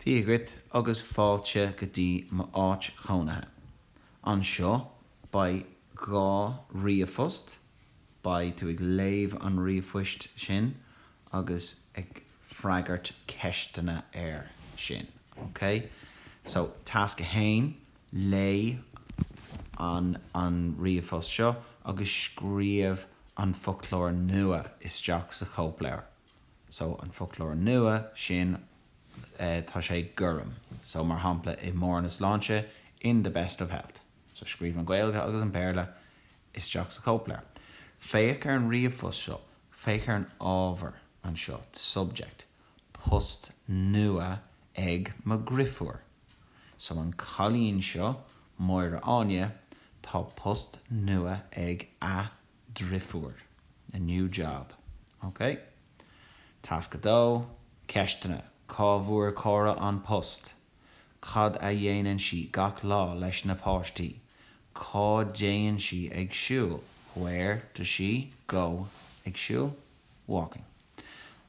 Dia dhuit agus fáilte go dtí m'áit chónaithe. Anseo, beidh dhá ríomhphost, beidh tú ag léamh an ríomhphoist sin agus ag freagairt ceisteanna air sin, ok? So, tasc a haon, léigh an an ríomhphost seo agus scríobh an foclóir nua isteach sa chóipleabhar. So an foclóir nua sin tá sé gorm. So mar shampla i mbarr na sláinte, in the best of health. So scríobh an Ghaeilge agus an Béarla isteach sa chóipleabhar. Féach ar an ríomhphost seo. Féach ar an ábhar anseo, the subject. Post nua ag mo dhriofúr. So an cailín seo, Máire Áine, tá post nua ag a. drifiúr, a new job. OK. Tasc 2, Ceisteanna, Cá bhfuair Córa an post? Cad a dhéanann sí gach lá leis na páistí? Cá dtéann sí ag siúl? Where does she go ag siúl? walking.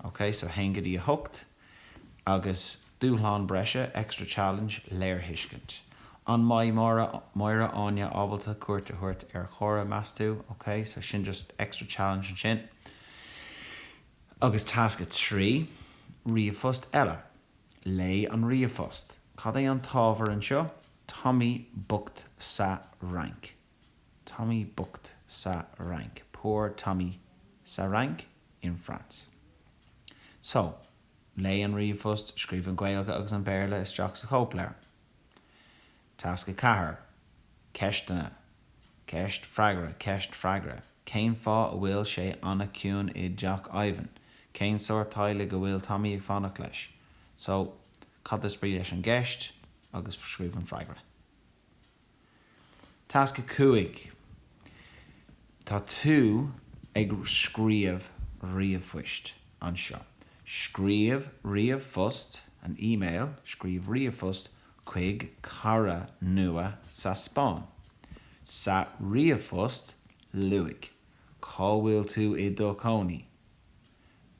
Ok, so 1 go dtí 8. Agus dúshlán breise, extra challenge, léirthuiscint. An mbeidh Máire, Máire Áine ábalta cuairt a thabhairt ar Chóra, meas tú? Ok, so sin just extra challenge ansin. Agus tasc 3, ríomhphost eile. Léigh an ríomhphost. Cad é an t-ábhar anseo? Tommy bocht sa Fhrainc. Tommy bocht sa Fhrainc, Poor Tommy sa Fhrainc, in France. So, léigh an ríomhphost, scríobh an Ghaeilge agus an Béarla isteach sa chóipleabhar. Tasc 4, Ceisteanna, Ceist Freagra Ceist Freagra Cén fáth a bhfuil sé an-chiúin i dteach Ivan? Cén sórt teaghlaigh go bhfuil Tommy ag fanacht leis? So, cad is brí leis an gceist agus scríobh an freagra. Tasc 5 Tá tú ag scríobh ríomhphoist anseo. Scríobh ríomhphost, an email, Scríobh ríomhphost chuig cara nua sa Spáinn. Sa ríomhphost, luaigh cá bhfuil tú i do chónaí.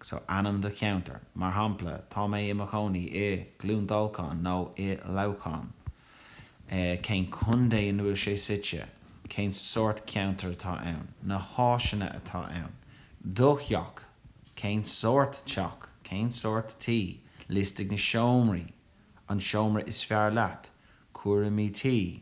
So, ainm do cheantair. Mar shampla, tá mé i mo chónaí i gCluain Dolcáin nó i Leamhcán. Eh, cén contae ina bhfuil sé suite? Cén sórt ceantair atá ann? Na háiseanna atá ann? Do theach, cén sórt teach? Cén sórt tí? Liostaigh na seomraí. An seomra is fearr leat. Cúraimí tí.